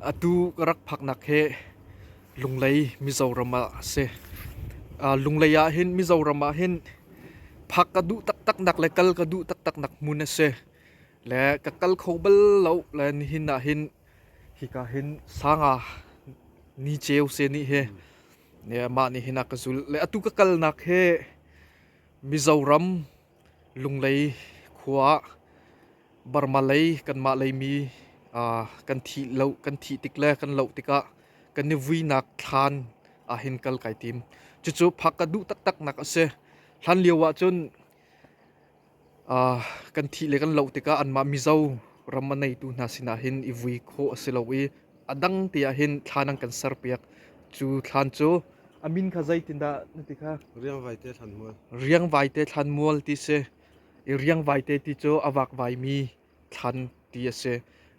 Atu ka rak phaknak hi Lunglei Mizoram ah a si. Lunglei ah hin Mizoram ah hin phak ka duh taktaknak le kal ka duh taktaknak hmun a si. Le ka kal kho bal lo le nihin ah hin hika hin sanga ni ceu se ni hi mah nihin ah ka zul. Le atu ka kalnak hi Mizoram Lunglei khua ah Burma lei kanmah lei mi kan thih lo kan thih tik le kan loh tikah kan i vuinak thlan ah hin kal kai tim. Cucu phak ka duh taktaknak a si. Hlan lio ahcun kan thih le kan loh tikah anmah Mizo ram a neitu hna sinah hin i vui khawh a si lo i a dang tiah hin thla nan kan serpiak cu thlan cu amin kha zeitindah na ti kha riang vaite thlan mual riang vaite thlan mual ti si i riang vaite ti cu a vak vai mi thlan ti a si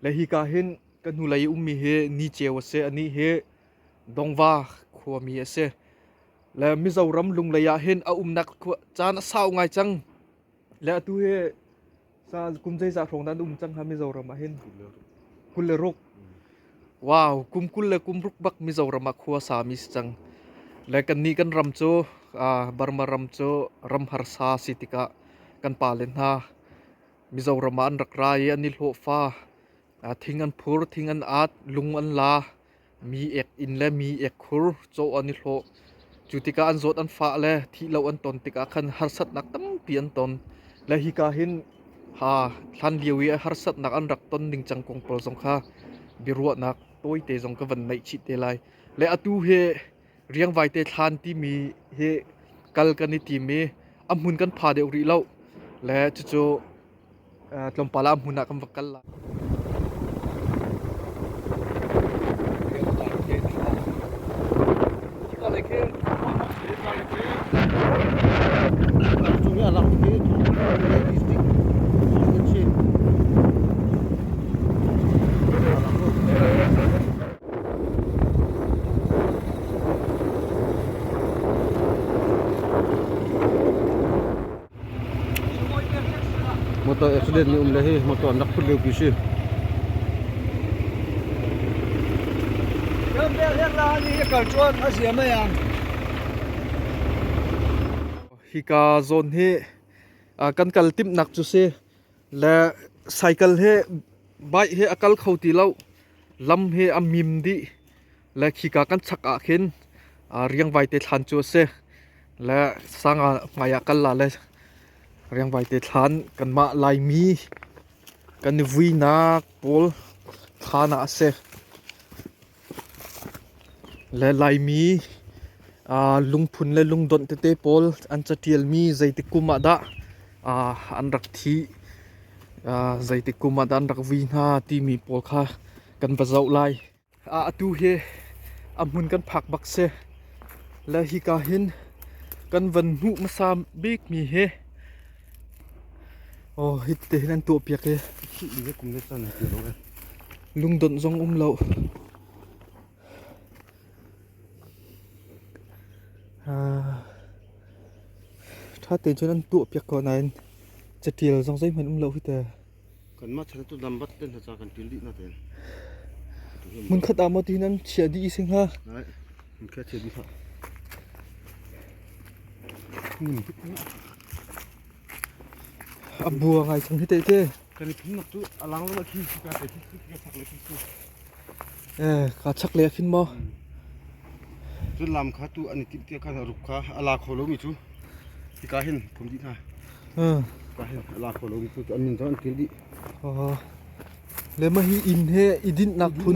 le hi ka hin ka hnulei ummi hi ni ceu a si ani hi dongva khuami a si le mizoram lunglei ah hin a umnak caan a sau ngai cang Le atu hi sa kum zeizah hrawng dan um cang ha Mizoram ah hin kul le ruk. Wow, kum kul le kum ruk bak Mizoram ah khua sami si cang. Le kan ni kan ram cu uh, Burma ram cu ram harsa si tikah kan pa le hna Mizoram ah an rak ra i an i hlawhfa Thing an phur, thing an at, lung an la, mi ek inn le mi ek khur caw an i hlawh. Cu tikah an zawt an fah le thih lo an ton tikah khan harsatnak tampi an ton. Le hika hin ha hlan lio i harsatnak an rak ton ningcang kong pawl zong kha biaruahnak tawite zong ka van neih chih te lai. Le atu hi riang vaite thlan timi hi kal kan i tim i a hmun kan pha deuh rih lo le cucu tlawmpal ah hmun ah kan va kal la Actually, alam ko dito. Realistic. Alam ko. motor accident ni um le hi motor an rak phut lio pi si hi ka zone hi kan kal timnak cu si le cycle he bike he a kal kho ti lo lam he a mim dih le khika kan chak ah khin riang vai te thlan cu a si le sang hmai ah kal la le riang vai te thlan kanmah laimi kan i vuinak pawl thlan ah a si. Le Laimi lungphun le lungdonh tete pawl an catialmi zeitik kum ah dah an rak thih, zeitik kum ah dah an rak vui hna timi pawl kha kan va zoh lai. Atu hi a hmun kan phak bak si. Le hika hin kan van hmuh hmasa bikmi hi Oh, hitte hi kan tuah piak i lungdonh zong um lo. Ah, tha te cun an tuah piak ko nain catial zong zeihman um lo hi te. Kanmah chan tu lambat ten hna kan til di na ten. Mun khat amo ti nan chia di isi nga. Nai. Mun khat chia di ha. Nim. A bu a ngai chang hi tehte. Kan i phing nak cu a lang lo na khi si ka te khi si ka chak le khi si. Eh ka chak le khin mo. Cun lam kha tu an i tim tia khan ruk kha a la kho lo mi chu. Ti ka hin kum di na. Hmm. Ka hin a la kho lo mi chu an min to an kil di. Oh. Le ma hi in he i din nak phun.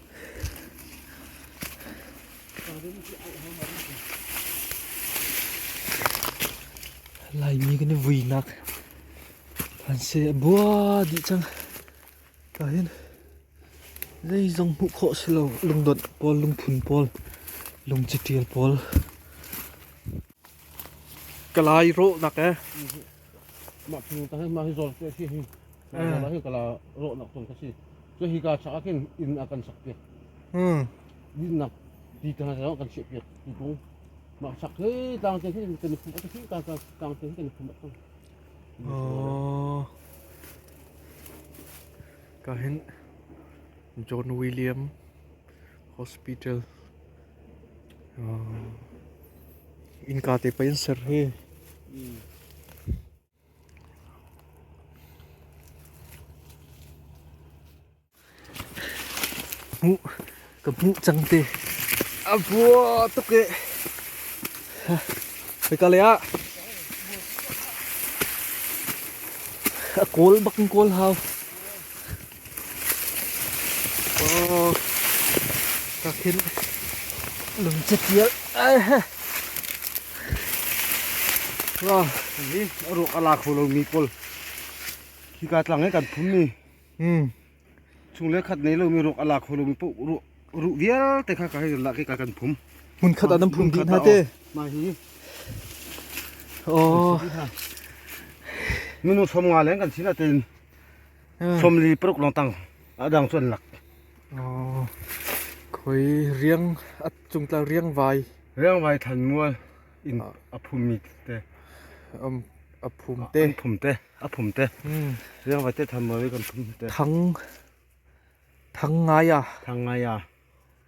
Laimi kan i vuinak an se a bua dih cang. Ta hin zeizong hmuh khawh si lo lungdawnh pawl lungphun pawl lungcitial pawl kalai rawh nak eh Mah nu ta mah hi zon ke si hi mah hi kala ro nak ton ka si so hi ka cha kin in a kan sak ke hmm din nak ti ta na kan che pe ti kung ma sak he tang te hin kan phu ka si ka ka tang te hin kan phu ma oh ka hin John William hospital innka te pei an ser hi. Hmuh ka hmuh cang te. A bua tuk e. Hika le ah. A kawl bak in kawl hau. Kakin lungcatial Wow, ni ruak alak lo mi pol. Hi ka tlang e kan phum mi. Hmm. Chung le khat nei lo mi ruak alak lo mi po ru ru vial te kha ka la ke ka kan phum. Mun khat adan phum din ha te. Ma hi. Oh. Minu som nga len kan sina ten Somli paruk long tang adang cu an lak. Oh. Khoi riang at chungtla riang vai Riang vai than mual in aphum mi te. um aphum te. An phum te, aphum te. Hmm. Riang vai te than mual i kan phum te. Thang thang ngaya Thangai ya.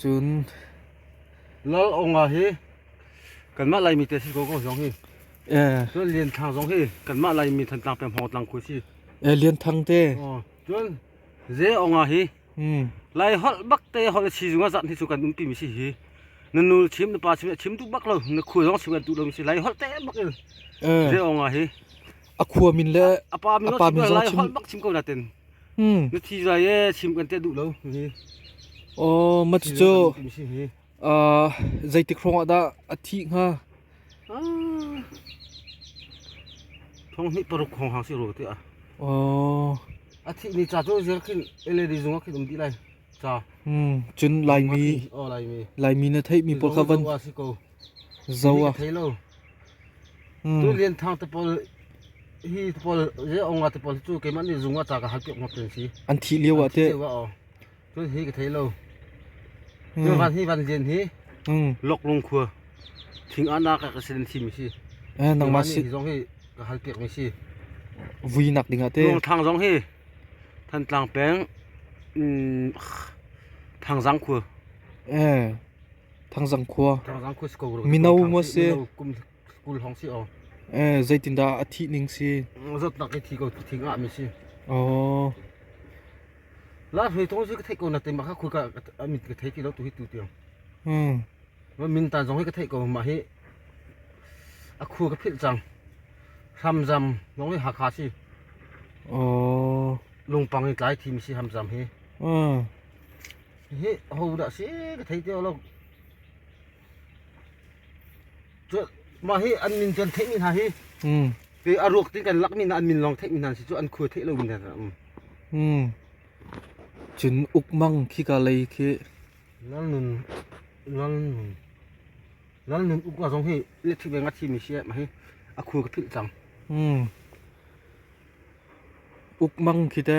Cun Lal Awnga hi kanmah Laimi te a si ko ko zong hi. Cun Lian Thang zong hi kanmah Laimi Thantlang peng Hmawngtlang khua a si. Lian Thang te. Aw, cun Ze Awnga hi Lai holh bak te holh a si zung ah zat hi cu kan umpi mi si hi. Na nul chim, na pa chim, a chim tuk bak lo. Na khua zong si kan tu lo mi si. Lai holh te bak in Ze Awnga hi a khua min le a pa min a pa min zong chim bak chim ko na ten hmm nu thi zai e chim kan te du lo hi o ma ti cho a zeitik rong da a thi nga thong ni paruk khong hang si ro te a o a thi ni cha to zer khin led zunga khin um di lai cha hmm chun lai mi o lai mi lai mi na thei mi por ka van Zo a thei lo. Tu lianthang te pawl hi te pawl je onga te pawl cu keimah nih zung ah ta ka hal piak ngop ten si. An thih lio ah te. Cun hi ka thei lo. Cun van hi van lian hi loklung khua thing anak ka sin thim si. Nang ma si zong hi ka hal piak mi si. Vui nak ding ah te. Luang thang zong hi than tlang peng thang zang khua. Eh. Thangzang khua mino ngwa si zeitindah a thih ning si zatnak i thi ko thi nga mi si oh la hlei thong si ka thei ko na te ma kha khu ka amit ka thei ki lo tu hi tu tiang hmm ma min ta zong hi ka thei ko ma hi a khu ka phil chang ham zam zong hi ha kha si oh lungpang i tlai thim si ham zam hi hmm Hihi ahodah si ka thei ti lo. Cu mah hi an min cu an theihmi hna hi mm. te a ruak ti kan lakmi hna an min lawng theihmi hna si cu an khua theih lo in hna um. Mm. Cun ukmang khika lei khi nal nun nal nun nal nun ukma zong hi electric veng a thimi si mah hi a khua ka philh cang. Mm. Ukmang khite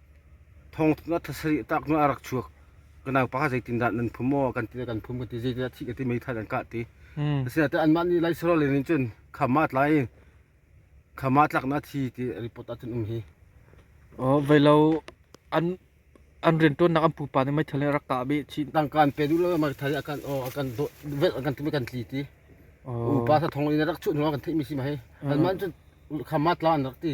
thong a thasarih tak nu a rak chuak ka nau pa zeitindah nan phum maw kan ti kan phum ka ti zeitindah thih ka ti meithal an kah ti hmm. asinain anmah nih laisarol nih cun khama tlai khama tlak na thi ti report ahcun um hi velo an an riantuan nak an pupa nih meithal rak kah bi chi tangkan pe du lo meithal akan o akan vet akan timi kan tli ti upa sa thong in rak chu nuwa kan thei mi si ma he an man cun khama tlan rak ti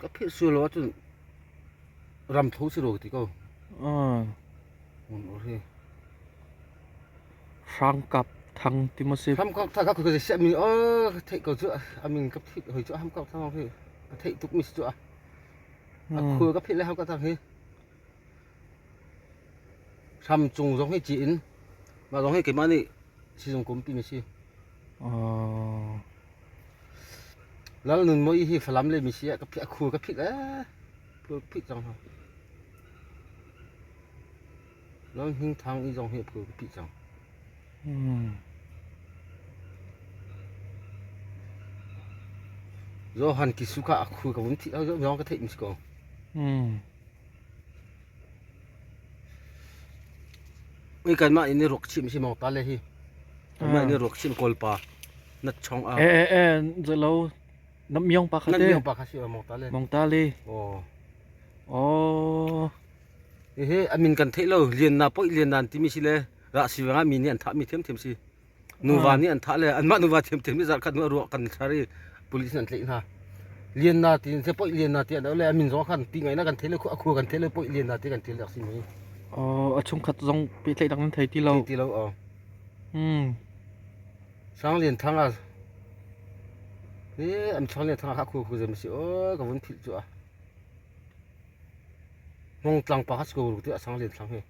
Ka philh sual lo ahcun ramtho si rua ka ti ko. Hramkap thang ti ma si. Hramkap thang ka khuai siah mi oh ka theih ko cu a min ka philh hoi cu hramkap thang hi ka theih tuk mi si cu a. A khuai ka philh le hramkap thang hi. Hram cung zong hi ci in mah zong hi keimah nih sizung kum pi mi si. Lal Nun Mawi hi Falam le misi ah a khur ka phit ee. Khur phit cang hna. Lal Hing Thang i zong hi a khur ka phit cang. Hmm. Zo Han Kisuka a khur ka vun thi, zo ka theih mis ko. Hmm. Ui kan mah in ni ruak chim si maw ta le hi. Mah in ni ruak chim kawl pa nat chong a. Eh eh eh zelo nam myong pa kha Nan te. myong pa kha si maw ta le. Mong ta le. Oh. Oh. Ehe amin kan thei lo lian na poi lian nan timi si le ra si wanga mi nih an tha mi thiam thiam si. nuva nih an thah le anmah nuva thiamthiam nih zarhkhat nu a ruah kan char i police an tleih hna lianna ti se poi lianna ti an le a min zong kan ti ngai na kan thele a khua kan thele poi lianna ti kan thele aksi mai ờ a chung khat zong pe tlei dang thei ti lo ti lo ờ hmm sang lian thang a eh am sang lian thang a khu khu zem si oi ka vun phil chu a mong tlang pa has ko ru ti a sang lian thang he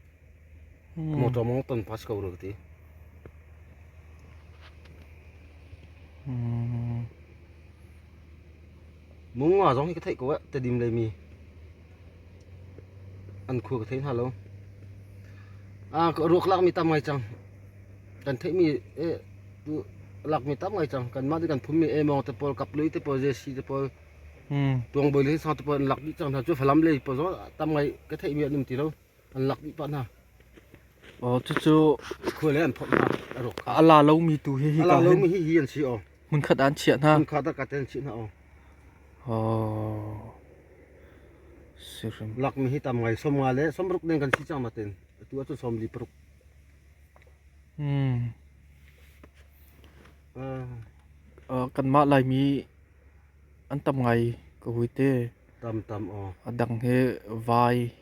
Motor mong ton pass ko ruk ti. Mung nga zong hi ka theih ko eh tedim le mi an khua ka thei hna lo. Ah ka ruak lak mi tam ngai chang. Kan theih mi eh lak mi tam ngai chang. Kan mah ti kan phum mi eh mong te pol kap lui te pol JC te pol tuang boi le sang te pol lak di chang hna chu falam le pol zong tam ngai ka theih mi an um ti lo. an lak dih pah hna oh cucu khua le an phot hna a la lomi tu hi hi ka lomi hi hi an si oh hmun khat an chiah hna hmun khat a kat an chiah hna oh oh sirim lakmi hi tam ngai som nga le som ruk deng kan si chang matin tu atu som li paruk hmm uh, kan ma lai mi an tam ngai ka hui te tam tam o adang he vai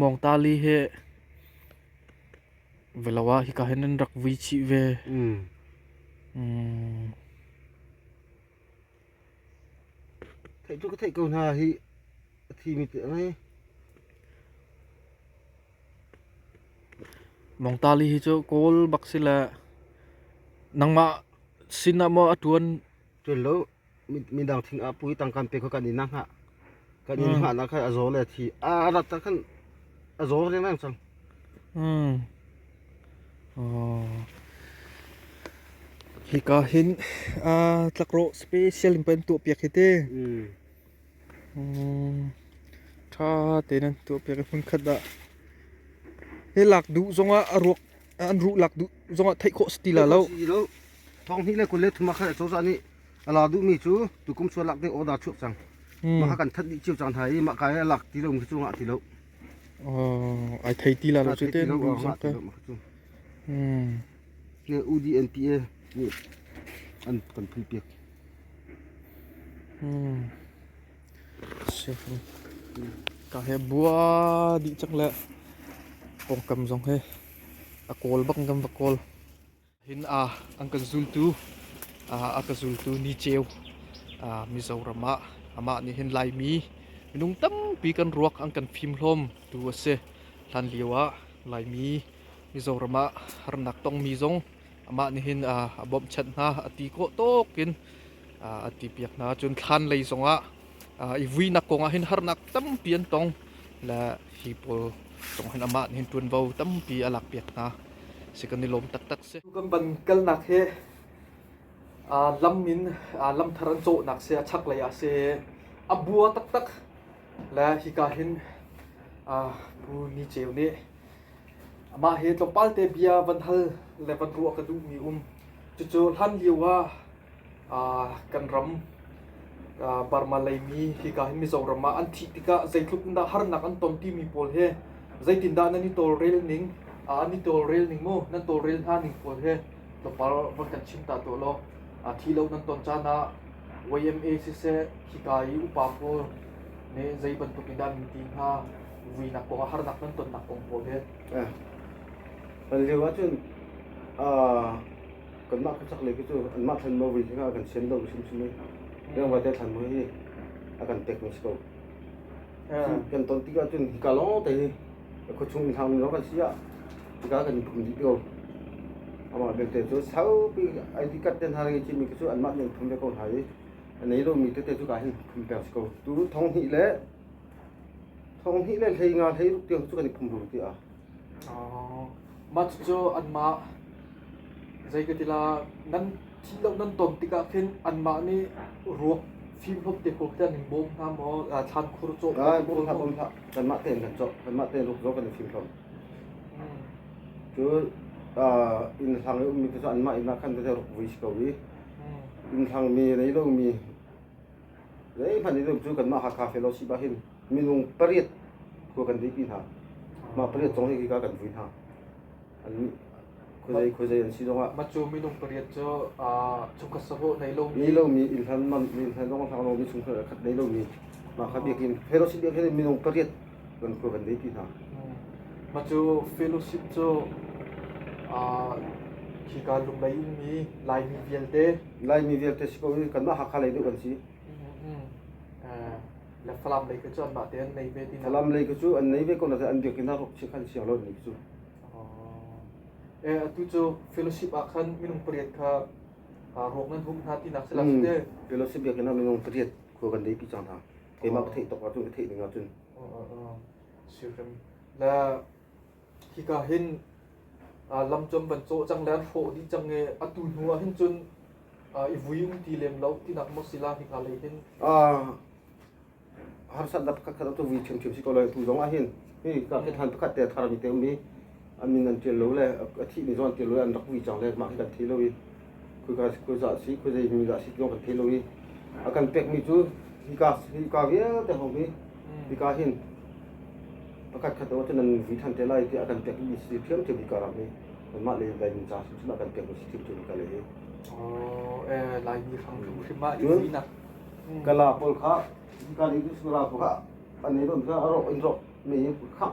Mawngtali he velawa hika hen an rak vui chih ve. Theih cu ka theih ko hna hi a thimi te ngai. Mawngtali hi cu kawl bak sila nangmah sinah maw a tuan Tuan lo. midang thing a pui tang kan pe kha kan in na ngah kan in ngah na kha a zo le thi a rat ta kan a zo ring nang chang mm oh hi ka hin a tlakro special in pen tu piak hi te mm tha te nan tu piak hun khat da he lak du zonga a ruak an ruh lak duh zongah theih khawh si ti la lo thong hnih le kul le thuma khat cozah nih ala duhmi cu tukum chuan lak ding order chuak cang maka kan that dih chiu cang thai i maka ai lak ti lo mi chu ngah ti lo ai thei ti la lo chu te nu sam ka hmm ne UDNPA an kan phi piak hmm Ka he bua dih cang le pawngkam zong hi a kawl bang kan va kawl. Hin ah an kan zultu a ka zultu Ni Ceu Mizoram ah amah nih hin Laimi minung tampi kan ruak an kan fim hlawm tu a si. Hlan lio ah Laimi Mizoram ah harnak tongmi zong amah nihin a bawmhchanh hna a ti kawh tawk in a ti piak hna cun thlan lei zongah i vuinak kongah hin harnak tampi an tong le hi pawl zong hin amah nihin ṭuanvo tampi a lak piak hna si kan i lawm taktak si kan van kalnak hi lam in lam thar an cawhnak si a chaklei ah si a bua taktak le hika hin pu ni ceu nih Mah hi tlawmpalte bia van hal le van ruah ka duhmi um. Cucu hlanlio ah aa, kan ram aa, Burma leimi hika hi Mizoram ah an thih tikah zeitluk in dah harnak an ton timi pawl hi zeitindah nan i tawlrel ning, aa, an i tawlrel ning mu, nan tawlrel hna ning pawl hi tlawmpal van kan chim ta tuah law aa, thi lo nan ton caan ah YMA siseh, hika i upa pawl nih zei bantuk in dah nan ti hnga, vuinak kong harnak nan tonnak kong hmuh ve an lio ah cun kanmah ka chaklei cu anmah thlan mo vui hi kan sian dong hrimhrim i reng vai te thlan mo hi a kan pek mi si ko kan ton tik ah cun hika lawng te hi khuachung hlang mi kan si ah hika kan pum dih ko amah belte cu saupi ai ti kat ten har ngi chimi cu anmah nih an phum ve ko hna i anei lo mi tete cu ka hin phum per si ko tu thong hnih le Thong hnih le hlei nga hlei ruk tiang cu kan i phum rul tiah. Mats cu anmah zeitlatilah nan thih lo nan ton tikah khin anmah nih ruak fim hlawm te ko khi an in bawm hna maw thlan khur cawh Kai bawm hlah bawm hlah kanmah tein kan cawh kanmah tein ruk zong kan i fim hlawm cu inn hlang i ummi khi cu anmah inn ah khan tete ruk vui si ko i inn hlangmi nei lomi Zeihmanh i dum cu kanmah Hakha Fellowship ah hin minung pariat khua kan dipi hna. Mah pariat zong hi hika kan vui hna. An khuazei khuazei an si zongah Mah cu minung pariat cu aa chungkhat savo nei lomi nei lomi ilhan man ilhan zong hlang lomi chungkhar khat nei lomi mah kha biak in Fellowship biak hin minung pariat kan khua kan dei ti hna. Mah cu fellowship cu khika lunglei in mi Laimi vialte Laimi vialte si ko in kanmah Hakha lei deuh kan si. le Falam lei cu an mah te an nei ve ti na Falam lei cu an nei ve ko na an biak in ruk si khan si lo ni cu. Eh atu cu fellowship ah khan minung pariat kha ruak nan hum hna ti nak se la te fellowship biak in minung pariat khua kan dei pi chang hna. keimah ka theih tuk ahcun ka theih ning ahcun sirim na hika hin lam cam van cawh cang le an hrawh dih cang e atu hnu ah hin cun i vui um ti lem lo tinak mo sila hika lei hin harsat na pakhat khat tu vi chim chim si ko lai tu zong ah hin hi ka hin han pakhat te thar mi te um hi an min an ṭial lo le a thihmi zong an ṭial lo i an rak vui cang le mah hi kan thei lo i khuazah si khuazei mi dah si tiong kan thei lo i a kan pekmi cu hika hika vialte hong hi hika hin pakhat khat lo cun an vui ṭhan te lai tiah a kan pekmi si ṭhiamṭhiam hika ram hi anmah le Laimi ca cun a kan pek mi si ṭhiamṭhiam hika le hi Oh, eh, Laimi hramhrim ah i finak. kala pawl kha kan i sura pawl kha an ei rom sa a rawk in rawk me khak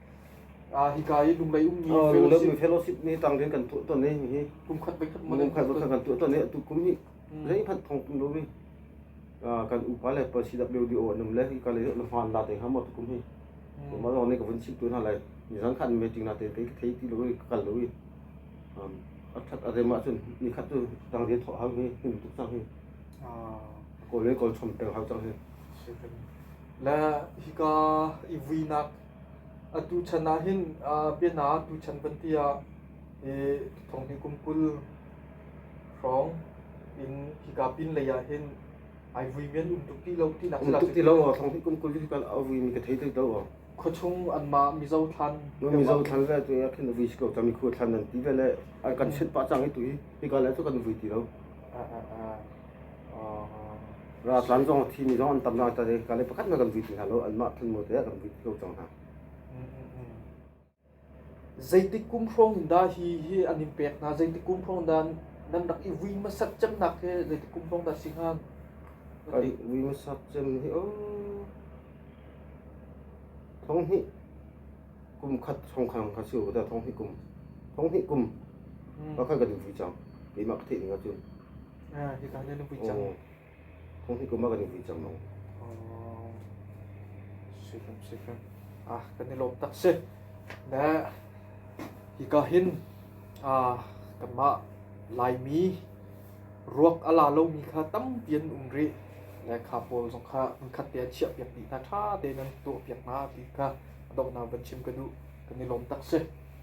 Hika i Lunglei ummi Lunglemnu Fellowship nih tangrin kan tuah ton hihi kum khat voikhat man kum khat voikhat kan tuah ton hi atu kum hi zeihmanh thong tum lomi kan upa le pa CWDO an um le hika le na hmaan la te ha mo kum hi ma zong ne ka vun chip tu hna lai nizan khan meeting na te ke thei ti lo ka kal lo i athat arema chun ni khat tu tangrin thọ hang hi nim tuk sang hi ko le kol chom peng hang chang hi la hika i vui nak Atu chan ah hin bianaah tuchan kan ti ah hi thawnghi kum kul hrawng in hika pinlei ah hin ai vui men um tuk ti lo tinak um tuk ti lo thawnghi kum kul hi kan a vui mi ka thei thei lo khuachung anmah mizo thlan mizo thlan le tu ya khin vui ko tami khu thlan nan ti ve le kan sit pa chang hi tu hi hika le tu kan vui ti lo Raltlang zong thini zong an tam hna tat i kale pakhat hmanh kan vit ti hna lo. Anmah thanmu te ah kan vit lo cang hna. Zeitik kum hrawng dah hi hi an in pek hna? Zeitik kum hrawng dah nan rak i vui masat cemnak he zeitik kum hrawng dah si hnga? Kan vui masat cem hi, oh, thong hi kum khat thong khan khan si da thong hnih kum thong hnih kum mm. pakhat ka dingfui cang lima ka theih ning cun ah hi ka le lungpui cang thong hnih kum ka dingfui cang no oh sikam sikam ah kan ni lom tak se ne hi ka hin ah kan ma laimi Ruak a la lomi kha tampi an um rih. Lehkha pawl zong kha hmunkhat te a chiahpiak dih hna, ṭha tein an tuahpiak hna ti kha a donghnak van chim ka duh. Kan i lawm tak si.